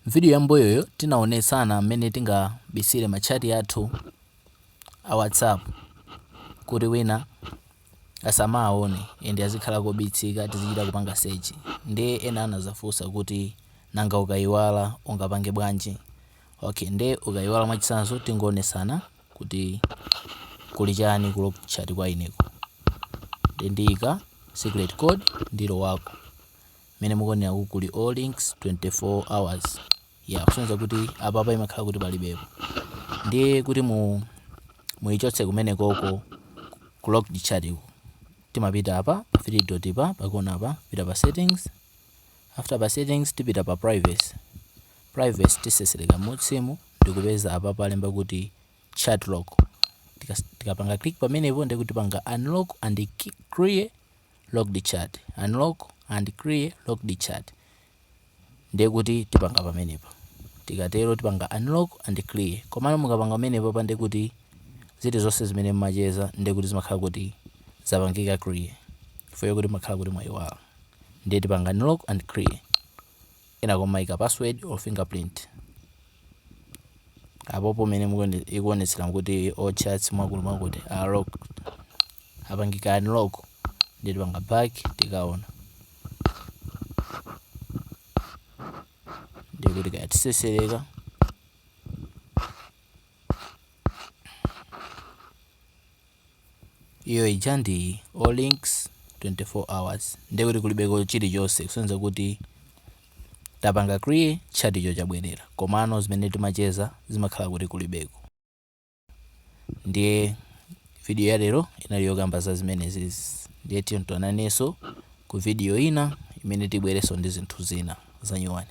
M'vidiyo yam'mbuyoyo, tinaonetsana mmene tingabisile machati athu a WhatsApp kuti wina asamaaone and azikhala obisika tizichita kupanga search. Ndiye ena anazafunsa kuti, Nanga ukaiwala ungapange bwanji? Ok, nde ukaiwala mwachitsanzo tingoonetsana kuti kuli chani ku locked chat kwa ineko. Nde ndiika secret code ndilowako. Mmene mukuoneraku kuli all links 24 hours yeah kusonyeza kuti apapa imakhala kuti palibepo ndiye kuti muichotse kumenekoko ku locked chat ku timapita apa pa 3 dot pa pakona apa pita pa settings after pa settings tipita pa privacy privacy tisesereka m'musimu ndikupeza apapa alemba kuti chat lock Tikas- tikapanga click pamenepo ndiye kuti tipanga unlock and ki- clear locked chat unlock and clear locked chat ndiye kuti tipanga pamenepa tikatero tipanga unlock and clear komano mukapanga pamenepapa ndiye kuti zinthu zonse zimene mmacheza ndiye kuti zimakhala kuti zapangika clear chifukwa kuti mmakhala kuti mwayiwala ndiye tipanga unlock and clear nakumaika password or fingerprint apopo mene ikuonetsera kuti all chats mwakuti mwakuti are locked apangika unlock ndiye tipanga back tikaona ndiye kuti kaya tisesereka iyo ija ndi all links 24 hours ndiye kuti kulibeko chilichonse kusonyeza kuti tapanga clear chaticho chabwerera komano zimene timacheza zimakhala kuti kulibeko ndiye video ya lero inali yokamba za zimenezi ndiye tionananso ku video ina imene tibwerenso ndi zinthu zina zanyuwani